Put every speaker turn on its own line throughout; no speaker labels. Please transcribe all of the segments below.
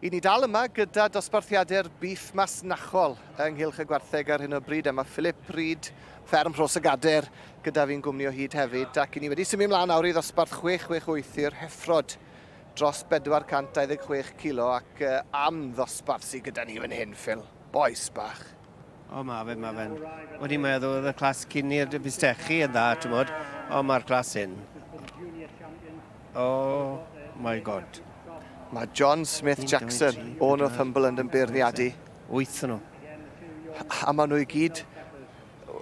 I ni dal yma gyda dosbarthiadau'r bîff masnachol ynghylch y gwartheg ar hyn o bryd, a mae Philip Reid, fferm Rhos y Gader, gyda fi'n gwmni o hyd hefyd, ac i ni wedi symud mlaen nawr i ddosbarth 668 i'r heffrod, dros 426 kilo, ac am ddosbarth sydd gyda ni fan hyn, Phil, bois bach. O, mae fe,
mae fe'n... O'n i'n meddwl oedd y clas cyn i'r bistechi yn dda, ti'n bod? O, mae'r clas hyn. Oh my god. Mae John
Smith Jackson o Northumberland yn beirniadu. Wyth nhw.
A
maen nhw i gyd...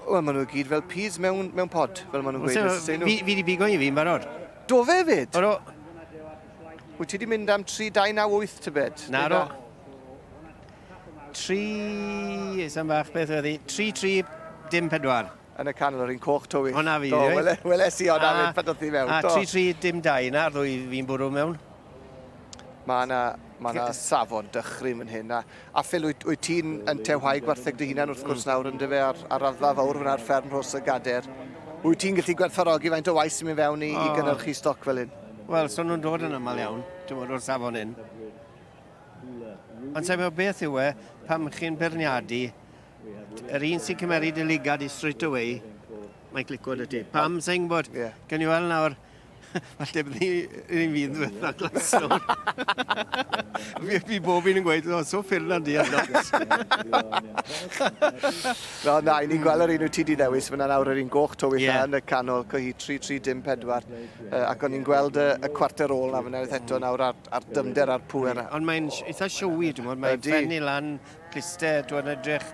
Wel, maen nhw i gyd fel peas mewn, mewn pod, fel maen nhw'n gweud. Fi wedi bigo i fi
yn barod. Do fe fyd?
Oro. Wyt ti wedi mynd am 3, 2, 9, 8 tybed? Na, ro.
Tri, sam fach beth oedd hi, tri tri dim pedwar. Yn y canol,
yr un coch tywyll. Hwna fi, do. Wele, wele
si o'n
arwydd pan oedd hi mewn. A tri tri dim dau
yna, ar ddwy fi'n bwrw mewn.
Mae yna Mae yna safon dychryn yn hyn. A, a Phil, wyt, wyt ti'n yn tewhau gwartheg dy hunan wrth gwrs nawr yn dyfe ar, ar raddfa fawr fyna ar fferm Rhos y Gader. Wyt ti'n gallu gwerthfarogi faint o waith sy'n mynd fewn i, oh. i gynnyrchu stoc fel hyn? Wel, so nhw'n dod yn
aml iawn, ti'n bod, o'r safon hyn. Ond teimlo beth yw e pam chi'n beirniadu yr un sy'n cymeryd y ligad i straight away mae'n clico dy ti. Pam sy'n gwybod? Yeah. Can you weld nawr? Falle bydd ni'n fydd ddiwetha glasio. Fi, fi bob un yn gweud, o, so ffyrna di ar nos.
no, na, i ni'n gweld yr un wyt ti di ddewis, mae'n awr yr un goch to weitha yeah. yn y canol, cohi 3-3-4, uh, ac o'n i'n gweld y, y cwarter ôl na fyna eto nawr ar a'r dyfnder a'r pŵer. Ond mae'n eitha siowy,
dwi'n mwyn, mae'n ffen i lan, cliste, dwi'n edrych,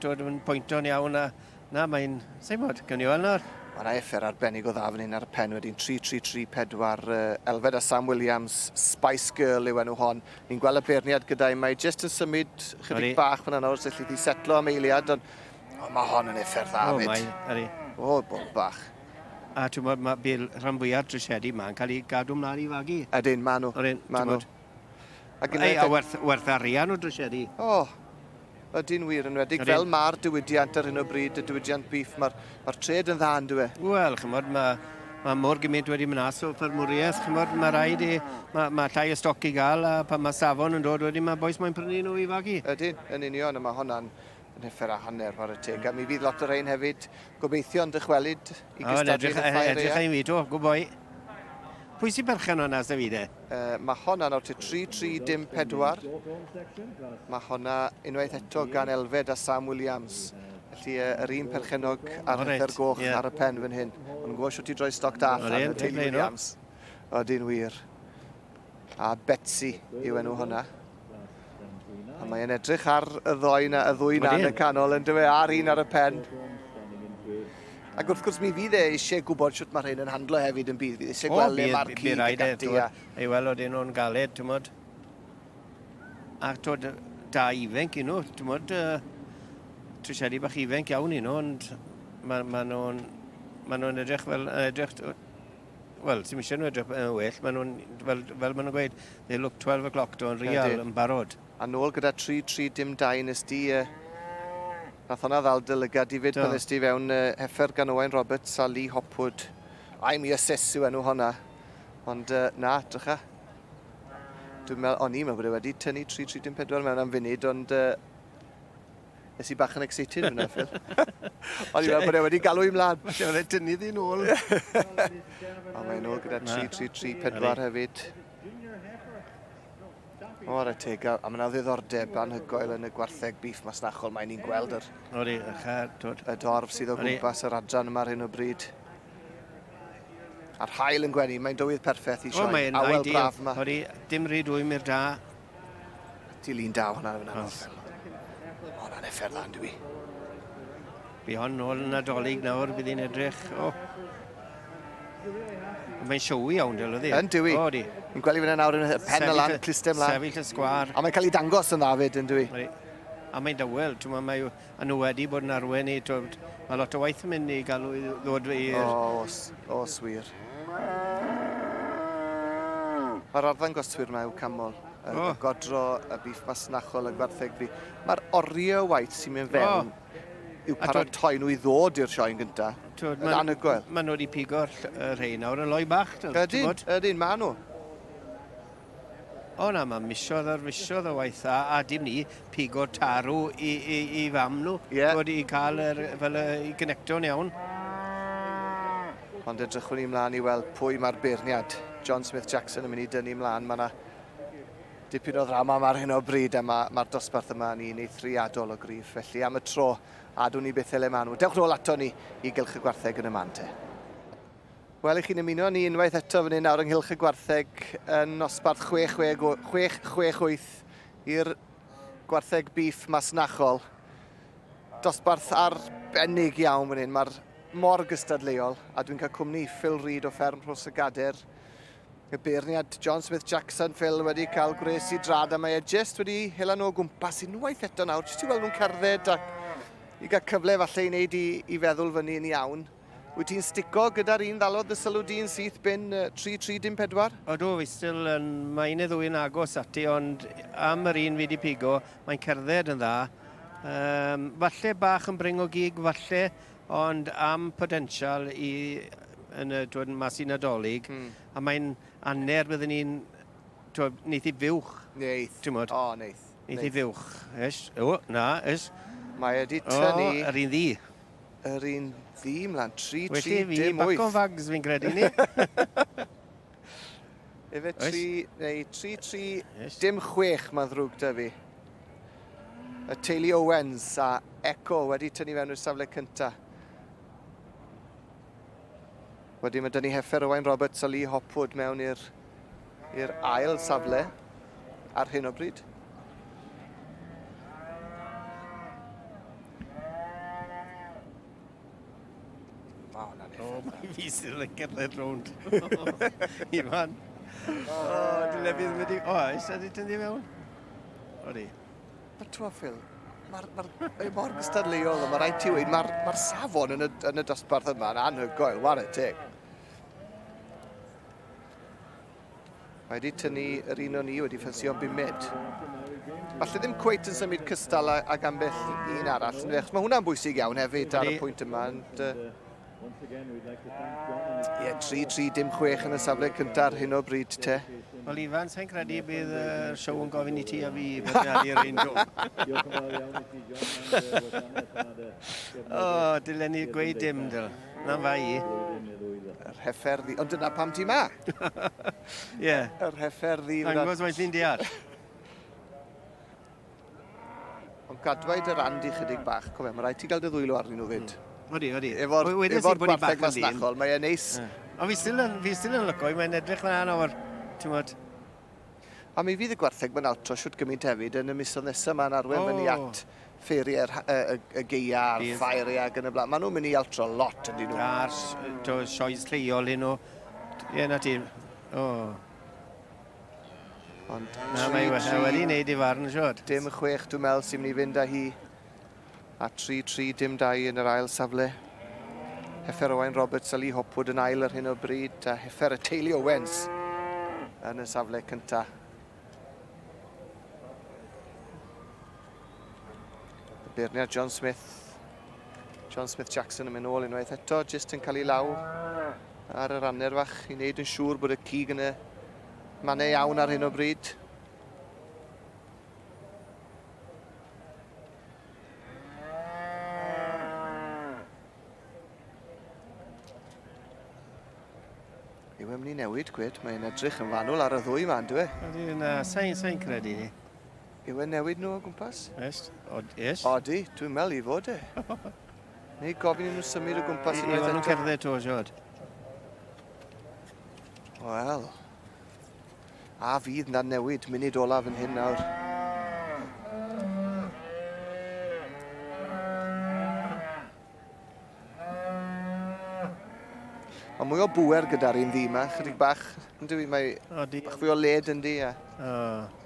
dwi'n pwynto'n iawn, a na, mae'n, sa'n mwyn, gynnu o'n nawr. Mae yna effer arbennig o
dda fan hyn ar y pen wedyn, 3-3-3-4, uh, Elfed a Sam Williams, Spice Girl yw enw hon. Ni'n gweld y beirniad gyda'i, mae jyst yn symud chydig bach fan yna wrth syllu di setlo am eiliad, ond oh, mae hon yn effer dda, oh, mae, O, bob bach. A ti'n gwybod,
mae bil rhan fwyaf trisiedi yma yn cael ei gadw mlaen i fagu. Ydyn,
maen nhw. Ydyn, maen nhw. Ei, a
werth, werth arian o drisiedi. O, oh,
ydy'n wir yn wedig. Fel mae'r diwydiant ar hyn o bryd, y diwydiant bif, mae'r ma tred yn dda yn dwi. E? Wel, chymod, mae
mae mor gymaint wedi mynd as o ffermwriaeth, chymod, mae rhaid i, mae, mae llai o stoc i gael, a pan mae safon yn dod wedyn, mae boes mae'n prynu nhw i fagu. Ydyn, yn union, a mae
hwnna'n Neffera a hanner, whare teg. A mi fydd lot o rhain hefyd, gobeithio yn dychwelyd i gystadlu yn y Ffair Eang. O, edrych i fi, do, gwboi.
Pwy sy'n berchen hwnna, sy'n fi de? Uh, mae honna
nawr te 3-3-dim-4. Mae honna unwaith eto gan Elfed a Sam Williams. Felly uh, yr un perchenog ar oh, right. goch yeah. ar y pen fan hyn. Ond gwybod siwt i droi stoc da allan, y teulu Williams. Oedyn wir. A Betsy yw enw hwnna. A mae'n edrych ar y ddoi na, y ddwy na yn y canol yn dywe, ar un ar y pen. Ac wrth gwrs mi fydd e eisiau gwybod sut mae rhain yn handlo hefyd yn bydd. Fydd eisiau gweld le mae'r cyd ac e, ati. Ei weld oedd un
o'n galed, ti'n modd. Ac tod, da ifenc i nhw, ti'n modd, uh, trisiadi bach ifenc iawn i nhw, ond maen nhw'n ma nhw edrych fel edrych Wel, ti'n eisiau nhw edrych yn well, maen nhw'n, fel, fel maen nhw'n gweud, they look 12 o'clock do'n real yn barod. A nôl gyda 3-3
dim 2 nes di, uh, nath hwnna ddal dy lygad i fyd pan nes di fewn uh, heffer gan Owain Roberts a Lee Hopwood. Ai mi ases yw enw hwnna, ond uh, na, drycha. Dwi'n meddwl, o'n i'n meddwl bod e wedi tynnu 3-3 dim 4 mewn am funud, ond uh, Nes i bach yn excited fyna, Phil. O'n i'n meddwl bod e wedi galw i mlaen. Mae e'n rhaid tynnu ddi'n
ôl.
A mae'n ôl gyda 3-3-3-4 hefyd. O, ar y teg, a mae'n ddiddordeb anhygoel yn y gwartheg bif masnachol. Mae'n ni'n gweld yr... Odi, y dorf sydd o gwmpas yr adran yma ar hyn o bryd. A'r hael yn gwenu, mae'n dywydd perffaith i sioe. Awel braf yma. Odi, dim rhi dwymi'r
da.
Dilyn da hwnna yn anodd. Hwnna'n effer dda, dwi.
Fi hon nôl yn adolyg nawr, bydd hi'n edrych. O. Mae'n siowy iawn, dyl ydi? Yn dwi. O, di. Yn
gweld i fyna nawr yn y pen y lan, clustem lan. Sefyll y sgwar. A mae'n
cael ei dangos yn dda
fyd, yn dwi. A mae'n
dawel, ti'n ma, mae A nhw wedi bod yn arwen i, twyd, mae lot o waith yn mynd i gael nhw i ddod i'r... O, os, os
wir. Mae'r arddangoswyr mae yw camol, y, oh. y godro, y bif masnachol, y gwartheg fi. Mae'r oriau waith sy'n mynd fewn oh yw paratoi nhw i ddod i'r sioen gyntaf. Twyd, yn anhygoel. Maen nhw wedi pigo'r
rhai nawr yn loi
bach.
Ydyn, ydyn,
maen nhw.
O na, mae misoedd ar fisoedd o waith a, a dim ni, pigo tarw i, i, i fam nhw. Ie. Yeah. Bod i cael yr, fel y, i gynecto'n iawn.
Ond edrychwn ni mlaen i weld pwy mae'r beirniad. John Smith Jackson yn mynd i dynnu mlaen. Mae yna dipyn o ddrama yma ar hyn o bryd a mae'r ma dosbarth yma yn un eithriadol o grif. Felly am y tro, adwn ni beth ele maen nhw. Dewch nôl ato ni i gylch y gwartheg yn y man te. Wel, 'y chi'n ymuno â ni unwaith eto fan hyn nawr ynghylch y gwartheg yn nosbarth 6668 i'r gwartheg bîff masnachol. Dosbarth arbennig iawn fan hyn, mae'r mor gystadleuol, a dwi'n cael cwmni Phil Reid o fferm Rhws y Gader, y beirniad John Smith Jackson, Phil wedi cael gwres i drad a mae e jyst wedi hela nhw o gwmpas unwaith eto nawr, jyst i weld nhw'n cerdded a i gael cyfle falle i wneud i, i feddwl fyny yn iawn. Wyt ti'n stico gyda'r un ddalodd dy sylw di yn syth bin 3314? Ydw, fi still
yn... Mae un neu ddwy yn agos ati, ond am yr un fi wedi pigo, mae'n cerdded yn dda. Um, falle bach yn bring o gig, falle, ond am potensial i yn y twyd, mas i Nadolig, mm. a mae'n aner byddwn ni'n neith i fywch. Neith. O,
oh, neith.
Neith i
fywch.
Ys, o, na, ys. Mae wedi
tynnu... O, yr un ddi.
Yr un
ddi mlaen, 3, 3, dim wyth. Felly fi, back o
fags fi'n
credu ni. Efe 3, neu 3, 3, dim chwech, mae'n ddrwg da fi. Y teulu Owens a Echo wedi tynnu fewn i'r safle cyntaf. Wedyn mae Dyni Heffer, Owain Roberts a Lee Hopwood mewn i'r i'r ail safle ar hyn o bryd.
O, na ni. O, mae fi sydd yn cerdded rownd. Ivan. O, dwi'n lefydd wedi... O, eisiau di tynnu mewn? O, di. Mae'r
tro, Phil. Mae'r... Mae'r... Mae mor gystadleuol, mae rhaid ti weid, mae'r... Mae'r safon yn y, yn y dosbarth yma yn anhygoel, war y teg. Mae wedi tynnu yr un o'n ni wedi ffensio bumed. Falle ddim cweit yn symud cystal ag ambell un arall. Mae hwnna'n bwysig iawn hefyd ar y pwynt yma. And, uh, Ie, 3-3 dim chwech yn y safle cyntaf ar hyn o bryd te. Wel Ifan, sa'n
credu bydd y siow yn gofyn i ti a fi bodnadi'r ein dro. o, dylen ni gweud dim, dyl. Na'n fai i. Yr
heffer ddi... Ond dyna pam ti ma!
Ie. Yr heffer
ddi... Angos mae'n sy'n deall. Ond cadwaid yr and i chydig bach. Cofio, mae rhaid ti gael dy ddwylo arnyn nhw fyd. Mm. Odi, odi. Efo'r
efo
gwartheg fasnachol, mae'n neis. Ond fi still yn,
fi still yn lyco i, mae'n edrych dda nawr, ti'n bod. A
mi fydd y gwartheg mae'n altro siwt gymaint hefyd yn y misodd nesaf yma'n arwen oh. fyny at ffeiriau'r y, y, y geia a'r ffairiau ac yn y blaen. Maen nhw'n mynd i altro lot yn dyn nhw. A'r sioes
lleol hyn o... Ie, na ti. Oh.
Ond Na, mae we- mae wedi
wneud ei farn, siŵr. Dim chwech, dwi'n meddwl,
sy'n mynd i fynd â hi. A 3-3, dim dau yn yr ail safle. Heffer Owain Roberts a Lee Hopwood yn ail ar hyn o bryd, a heffer y teulu Owens yn y safle cyntaf. Y beirniad John Smith. John Smith Jackson yn mynd nôl unwaith eto, jyst yn cael ei law. ar yr anner fach i wneud yn siŵr bod y cig yn y mannau iawn ar hyn o bryd. Yw e'n mynd i newid, gwed? Mae'n edrych yn fanwl ar y ddwy yma, ynddo e? Ydy, na, sain,
sain credu ni. Yw e'n newid
nhw o gwmpas? Yes, od, yes.
Odi, dwi'n meddwl
i fod e. Neu gofyn i nhw symud o gwmpas unwaith eto. Iwan nhw cerdded to,
siod.
Wel. A fydd na newid munud olaf yn hyn nawr. Mae mwy o bwer gyda'r un ddi yma, chydig bach, yn dwi, mae Odi. bach fwy o led yn di. A... Oh.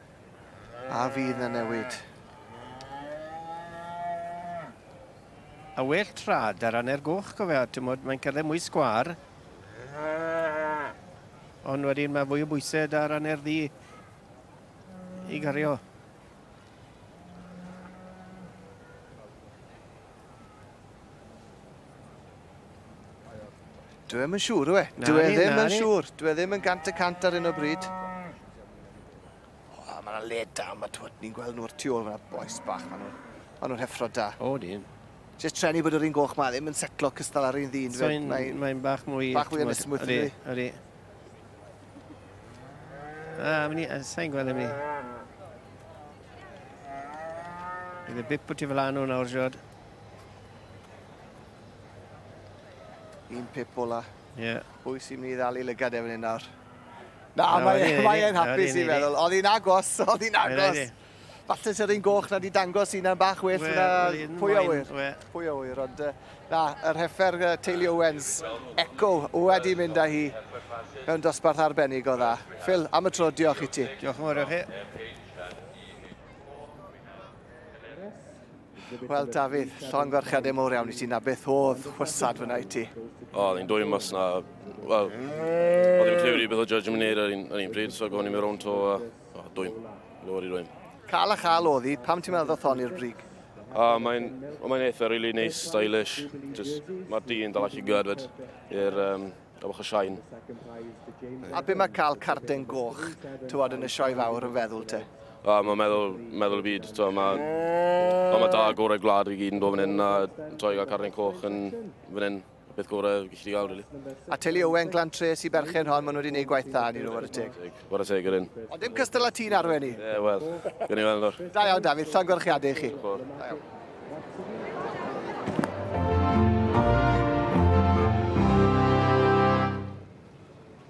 A fydd na newid?
A well trad ar anner goch cofia, timod, mae'n cerdded mwy sgwar. Ond wedyn mae fwy o bwysau ar anner ddi i gario.
Dwi ddim yn siŵr, yw e? Na, Dwi e ddim na, yn siŵr. Dwi e ddim yn gant y cant ar un o bryd. O, mae yna le da, mae twyd, ni'n gweld nhw'r tu ôl fyna, boes bach, mae nhw'n ma nhw heffro da. O, dyn.
Just trenu bod yr
un goch mae ddim yn setlo cystal ar un ddyn. So mae'n mae bach
mwy... Bach mwy ysmwyth yn dwi.
Ydy.
A, mynd i, sa'n gweld mynd i. Bydd y bip o ti fel anw nawr, Jod.
Un pip ola. Ie. Yeah. Pwy sy'n
mynd i ddalu
lygad efo'n un nawr? Na, mae e'n hapus i'n meddwl. Oedd hi'n agos, oedd hi'n agos. Falle sy'r un goch na di dangos un am bach well na pwy awyr. Pwy awyr, ond na, yr heffer Teulu Owens, Eco, wedi mynd â hi mewn dosbarth arbennig o dda. Phil, am y tro, diolch i ti. Diolch yn fawr i chi. Wel, Dafydd, llon gwarchadau mowr iawn i ti. Na beth oedd chwysad fyna i ti? O, oedd hi'n dwy mas
na... Wel, oedd hi'n clywed i beth o judge yn neud ar un, ar un pryd, so gofyn i mi rown to a... O, dwym. Lywed i dwym. Cael a chael oedd hi,
pam ti'n meddwl ddoth hon i'r brig? A
mae'n mae eitha really nice, stylish. Mae'r dyn dal allu gyrfyd i'r um, Am ochr Siain.
A be mae cael carden goch, tywod, yn y sioe fawr yn feddwl te? A mae meddwl,
meddwl y byd, tywod, mae... Ond mae da gorau gwlad i gyd yn dod fan hyn, a tywod, i gael carden coch yn fan hyn, beth gorau gallu gael, really. A teulu Owen, Glan
Tres i berchen hon, maen nhw wedi gwneud gwaith da, ni nhw, ar y teg. What a say, Gyrun. Ond
dim cystal a ti'n arwen
i.
Ie, wel, gwn i
weld o'r. Da
iawn,
David. Llon
gorchiadau
i
chi.
Da iawn.